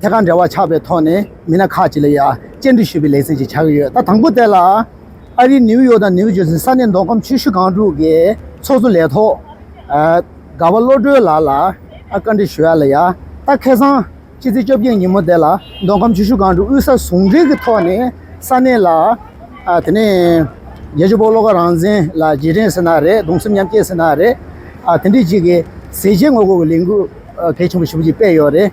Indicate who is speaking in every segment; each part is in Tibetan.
Speaker 1: ཐད་ཀར་འབྲེལ་བ་ཆགས་པའི་ཐོག་ནས་མི་སྣ་ཁག་ཅིག་ལ་ཡང་སྤྱན་འབྲི་ཞུ་བའི་ལེ་ཚན་ཞིག་ཆགས་ཀྱི་ཡོད་ད་དང་པོ་དེ་ལ། ཨ་རིའི་ནིའུ་ཡོག་དང་ནིའུ་ཇེར་སི་ས་གནས་མདོ་ཁམས་ཆོས་ཞུ་ཁང་དྲུག་གི་ཚོགས་གཙོ་ལས་ཐོག་དགའ་བ་བློ་གྲོས་ལགས་ལ་བཀའ་འདྲི་ཞུ་ཡ་ལ་ཡང་ད་ཁེ་སང་ཕྱི་ཚེས་བཅོ་བརྒྱད་ཉིན་མོ་དེ་ལ་མདོ་ཁམས་ཆོས་ཞུ་ཁང་དྲུག་དབུས་ས་ཟུང་འབྲེལ་གྱི་ཐོག་ནས་ས་གནས་ལ། དེ་ནས་རྒྱལ་གཅེས་པོ་ལོ་ཀ་རང་བཙན་ལ་རྗེས་དྲན་ཟེར་ན་རེད་གདུང་སེམས་མཉམ་སྐྱེད་ཟེར་ན་རེད། དེ་འདྲའི་ཅིག་གི་ཟས་བཅད་དངོས་པོ་གི་ལས་འགུལ་གལ་ཆེན་པོ་ཞིག་སྤེལ་ཡོད་རེད།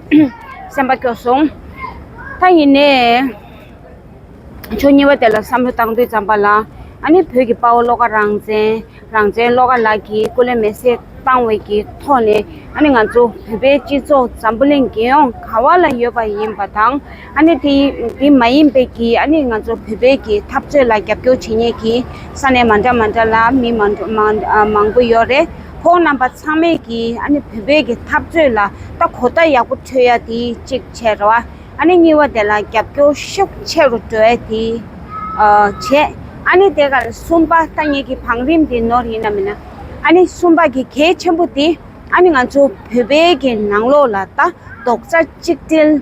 Speaker 2: སེམས་པ་སྐྱོ་སོང། ད་ཡིན་ནས་ཆོས་ཉེས་པ་དེ་ལ་བསམ་བློ་བཏང་དུས་བརྩམས་པ་ལ་ཨ་ནི་བོད་ཀྱི་དཔའ་བོ་བློ་དགའ་རང་བཙན་རང་བཙན་བློ་དགའ་ལགས་ཀྱིས་སྐུ་ལས་མེ་སྲེག་བཏང་བའི་གི་ཐོག་ནས་ཨ་ནི་ང་ཚོ་བོད་པའི་སྤྱི་ཚོགས་འཛམ་བུ་གླིང་རྒྱལ་ཡོངས་ག་བ་ལ་ཡོད་པ་ཡིན་པ་དང། ཨ་ནི་དེ་དེ་མ་ཡིན་པའི་གི་ཨ་ནི་ང་ཚོ་བོད་པའི་གི་འཐབ་རྩོད་ལ་རྒྱབ་སྐྱོར་བྱེད་ཉེ་གི་ས་ནས་མ་འདྲ་མ་འདྲ་ལ་མི་མ་འདྲ་མ་འདྲ་མང་པོ་ཡོད་རེད་ཁོང་རྣམ་པ་ཚང་མས་གི་ཨ་ནི་བོད་པའི་གི་འཐབ་རྩོད་ལ་ད་གོ་བརྡ་ཡག་པོ་འཕྲོད་ཡ་དེ་གཅིག་བྱས་ར་བ་ཨ་ནི་གཉིས་བ་དེ་ལ་རྒྱབ་སྐྱོར་ཤུགས་ཆེ་རུ་འགྲོ་ཡ་དེ་བྱས་ཨ་ནི་དེ་གར་གསུམ་པ་ད་ངེད་གི་བང་རིམ་དེ་ནོར་ཡིན་ན་མིན་ན་ཨ་ནི་གསུམ་པ་གི་གལ་ཆེན་པོ་དེ་ཨ་ནི་ང་ཚོ་བོད་པའི་གི་ནང་ལོགས་ལ་ད་རྡོག་རྩ་གཅིག་སྒྲིལ།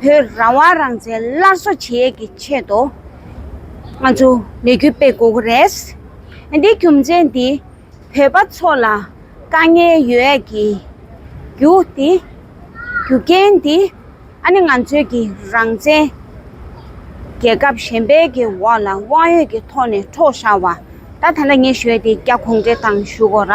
Speaker 2: བོད་རང་དབང་རང་བཙན་སླར་གསོ་བྱེད་ཡས་ཀྱི་ཆེད་དུ། ང་ཚོ་ལས་འགུལ་སྤེལ་དགོས་ཀྱི་རེད། འདིའི་རྒྱུ་མཚན་དེ་བོད་པ་ཚོ་ལ་དཀའ་ངལ་ཡོད་ཡས་ཀྱི་རྒྱུ་དེ། རྒྱུ་རྐྱེན་དེ། ཨ་ནི་ང་ཚོའི་ཀྱི་རང་བཙན། རྒྱལ་ཁབ་གཞན་པའི་ཀྱི་འོག་ལ་དབང་ཡོད་ཀྱི་ཐོག་ནས་འཕྲོག་བཞག་བ། ད་ད་ལ་ངས་ཞུས་ཏེ་རྒྱ་གུང་འབྲེལ་དང་ཞུ་གོ་ར།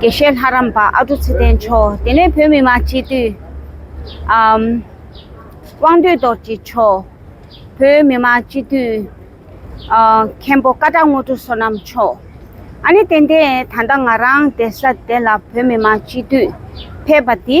Speaker 2: དགེ་བཤེས་ལྷ་རམས་པ་ཨ་ཀྲུག་ཚེ་བརྟན་མཆོག་དེ་ནས་བོད་མི་མང་སྤྱི་འཐུས། དབང་འདུས་རྡོ་རྗེ་མཆོག། བོད་མི་མང་སྤྱི་འཐུས། མཁན་པོ་ཀ་བྲག་དངོས་གྲུབ་བསོད་ནམས་མཆོག། ཨ་ནི་ཏན་ཏན་ད་ལྟ་ང་རང་སྡེ་ས་དེ་ལ་བོད་མི་མང་སྤྱི་འཐུས་ཕེབས་པ་འདི།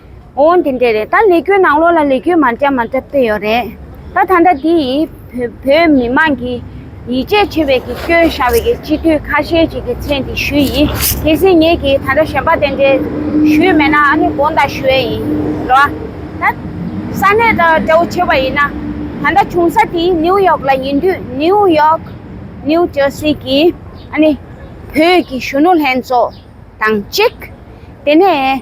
Speaker 2: ཨོ་དེ་འདྲས་རེད་ད་ལས་ཁྱོད་ནང་ལོག་ལ་ལས་ཁྱོད་མར་བསྐྱབས་མར་བསྐྱབས་བལྟས་ཡོད་རེད་ད་ད་ལྟ་དེ་ཡིས་བོད་མི་དམངས་ཀྱི་ཡིད་ཆེས་ཆེ་བའི་གི་སྐྱོན་བཞག་བའི་གི་སྤྱི་འཐུས་ཁ་ཤས་ཅིག་གི་མཚན་དེ་ཞུས་ཡིན་དེ་སྲིད་ངེད་ཀྱི་ད་ལྟ་གཞན་པ་དེ་འདྲས་ཞུས་མེད་ན་ཨ་ནི་དགོངས་དག་ཞུ་ཡས་ཡིན་རོ་ཨ་ད་ས་གནས་ད་འདྲ་བོ་ཆེ་བ་ཡིན་ན་ད་ལྟ་བྱུང་ས་དེ་ནིའུ་ཡོག་ལ་ཡིན་དུས་ནིའུ་ཡོག New Jersey གི་ཨ་ནི་བོད་ཀྱི་གཞོན་ནུ་ལྷན་ཚོགས་དང་གཅིག་དེ་ནས་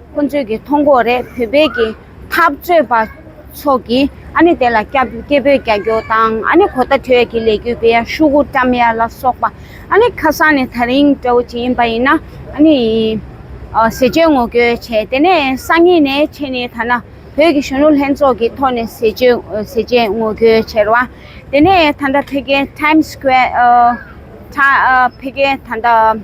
Speaker 2: ཁོ་ཚོས་ཀྱི་ཐོ་འགོག་རེད་བོད་པའི་ཀྱི་འཐབ་རྩོད་པ་ཚོགས་ཀྱི་ཨ་ནི་དེ་ལ་སྐྱ་སྐྱེ་བོས་རྒྱ་སྐྱོར་དང་ཨ་ནི་གོ་ད་ཐོས་ཀྱི་ལས་རྒྱུ་པའི་ཤུ་གུ་ཀྲམ་ཡ་ལ་སོགས་པ་ཨ་ནི་ཁ་སང་ནས་ད་རིང་འདྲ་བོ་ཅིག་ཡིན་པ་ཡིན་ན་ཨ་ནི་ཟས་སྤྱོད་ངོ་རྒྱོལ་བྱས་དེ་ནས་སང་ཉིན་ནས་ཕྱེ་ནས་ད་ན་བོད་ཀྱི་གཞོན་ནུ་ལྷན་ཚོགས་ཀྱི་ཐོག་ནས་ཟས་སྤྱོད་ངོ་རྒྱོལ་བྱེད་ར་བ་དེ་ནས་ད་ད་ཕེ་ཀེ་ཐཱིམ་སྐུ་ཨེར་ཕེ་ཀེ་ད་ད།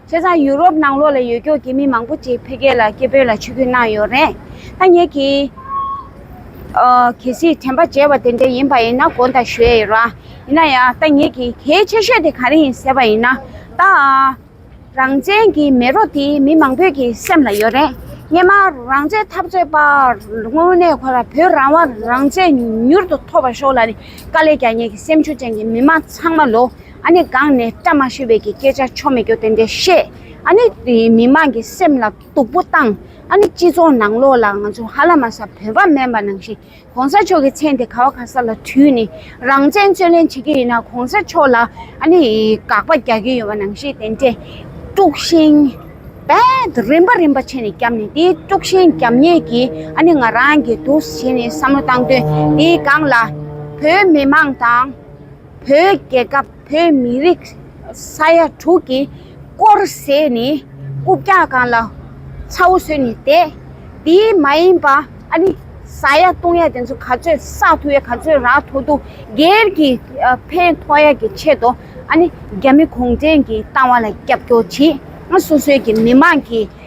Speaker 2: བྱས་ཙང་ཡུ་རོབ་ནང་ལོགས་ལ་ཡོད་སྐྱོར་གྱི་མི་མང་པོ་ཅིག་འཕེལ་རྒྱས་ལ་སྐད་འབོད་ལ་ཆུ་སྐྱོན་གནང་ཡོད་རེད། ཐ་སྙད་ཀྱི། གལ་སྲིད་དྲན་པ་བརྗེད་པ་དེ་འདྲ་ཡིན་པ་ཡིན་ན་དགོངས་དག་ཞུ་ཡས་ཡོད། ཡིན་ན་ཡང་ཐ་སྙད་ཀྱི་གལ་ཆེ་ཤོས་དེ་ག་རེ་ཡིན་ཟེར་བ་ཡིན་ན། ད་རང་བཙན་གྱི་མེ་རོ་དེ་མི་མང་པོས་ཀྱི་སེམས་ལ་ཡོད་རེད། སྙེ་མ་རང་བཙན་འཐབ་རྩོད་པ་དངོས་གནས་ཁོ་ར་བོད་རང་དབང་རང་བཙན་མྱུར་དུ་ཐོབ་པ་ཤོག་ལ་ནི་དཀའ་ལས་རྒྱ་ཉེ་གི་སེམས་ཆུ་ཅན་གྱི་མི་མང་ཚང་མ་ལོ་ཨ་ནི་སྒང་ནས་བཀྲ་མ་ཤིས་བས་ཀྱི་སྐད་ཆ་ཆོ་མེད་སྐྱོ་དེ་འདྲས་བཤད། ཨ་ནི་མི་མང་གི་སེམས་ལ་སྡུག་པོ་བཏང། ཨ་ནི་སྤྱི་ཚོགས་ནང་ལོགས་ལ་ང་ཚོ་ཧ་ལ་མ་ས་བོད་པ་མེན་པ་ནང་བཞིན་གོང་ས་མཆོག་གི་མཚན་དེ་ག་བ་ག་ས་ལ་དྲུས་ནས་རང་བཙན་རྩོད་ལེན་བྱེད་ཀྱི་ཡིན་ན་གོང་ས་མཆོག་ལ་ཨ་ནི་དགག་པ་རྒྱག་གི་ཡོད་པ་ནང་བཞིན་དེ་འདྲས་དཀྲུགས་ཤིང་རྦད་རིམ་པ་རིམ་པ་བྱས་ནས་རྒྱབ་ནས་དེ་དཀྲུགས་ཤིང་རྒྱབ་ཉེས་ཀྱིས་ཨ་ནི་ང་རང་གི་དུགས་བྱས་ནས་བསམ་བློ་བཏང་དོན་དེའི་སྒང་ལ་བོད་མི་མང་དང། བོད་རྒྱལ་ཁབ་བོད་མི་རིགས་ས་ཡ་དྲུག་གི་བསྐོར་ཟས་ནི་རྐུབ་བཀྱག་སྒང་ལ་ཚ་བོ་ཟོས་ནས་བསྡད། དེའི་མ་ཡིན་པ་ཨ་ནི་ས་ཡ་སྟོང་ཡ་དེ་ཚོ་ག་ཚོད་ས་ཐུ་ཡ་ག་ཚོད་ར་ཐུ་ཐུ་སྒེར་གྱི་ཕན་ཐོག་ཡ་གི་ཆེད་དུ་ཨ་ནི་རྒྱ་མི་གུང་བྲན་གྱི་བཏང་བ་ལ་རྒྱབ་སྐྱོར་བྱེད། སོ་སོའི་གི་མི་མང་གི།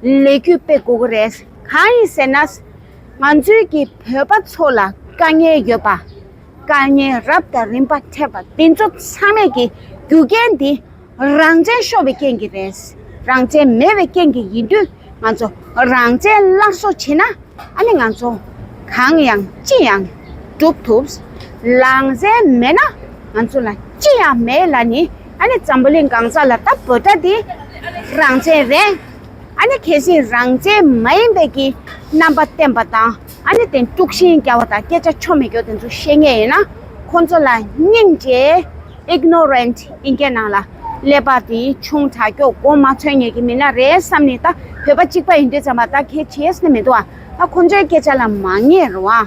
Speaker 2: ལས་རྒྱུས་སྤེལ་དགོས་ཀྱི་རེད། གང་ཡིན་ཟེར་ན། ང་ཚོའི་གི་བོད་པ་ཚོ་ལ་དཀའ་ངལ་ཡོད་པ། དཀའ་ངལ་རབ་དང་རིམ་པ་འཕྲད་པ་འདི་ཚོ་ཚང་མས་གི་རྒྱུ་རྐྱེན་འདི་རང་བཙན་ཤོར་བའི་རྐྱེན་གྱི་རེད། རང་བཙན་མེད་བའི་རྐྱེན་གྱི་ཡིན་དུས་ང་ཚོ་རང་བཙན་སླར་གསོ་བྱེད་ན་ཨ་ནི་ང་ཚོ་གང་ཡང་ཅི་ཡང་སྒྲུབ་ཐུབ། རང་བཙན་མེད་ན་ང་ཚོ་ལ་ཅི་ཡང་མེད་ལ་ནི། ཨ་ནི་ཛམ་བུ་ལི་སྒང་ཚ་ལ་ལྟ་བུ་འདྲ་དེ་རང་བཙན་རེད། ཨ་ནི་གལ་སྲིད་རང་བཙན་མ་ཡིན་པའི་གི་རྣམ་པ་བསྟན་པ་དང་ཨ་ནི་དེ་དཀྲུགས་ཤིང་རྒྱ་བ་དང་སྐད་ཆ་ཆོ་མེད་སྐྱོ་དེ་ཚོ་བཤད་ངེས་ཡིན་ན་ཁོང་ཚོ་ལ་སྙིང་རྗེ Ignorant ཨིན་སྐད་ནང་ལ་ཀླད་པ་དེ་ཆུང་དྲག་སྐྱོ་དགོངས་མ་འཚོལ་ངེས་གི་མི་ན་རེ་བསམ་ནི་ད་བོད་པ་གཅིག་པ་ཡིན་དུས་ཙམ་པ་ད་གལ་ཆེས་ནི་མི་འདུག་ཨ་ད་ཁོང་ཚོའི་སྐད་ཆ་ལ་མ་ངེས་རུང་ཨ།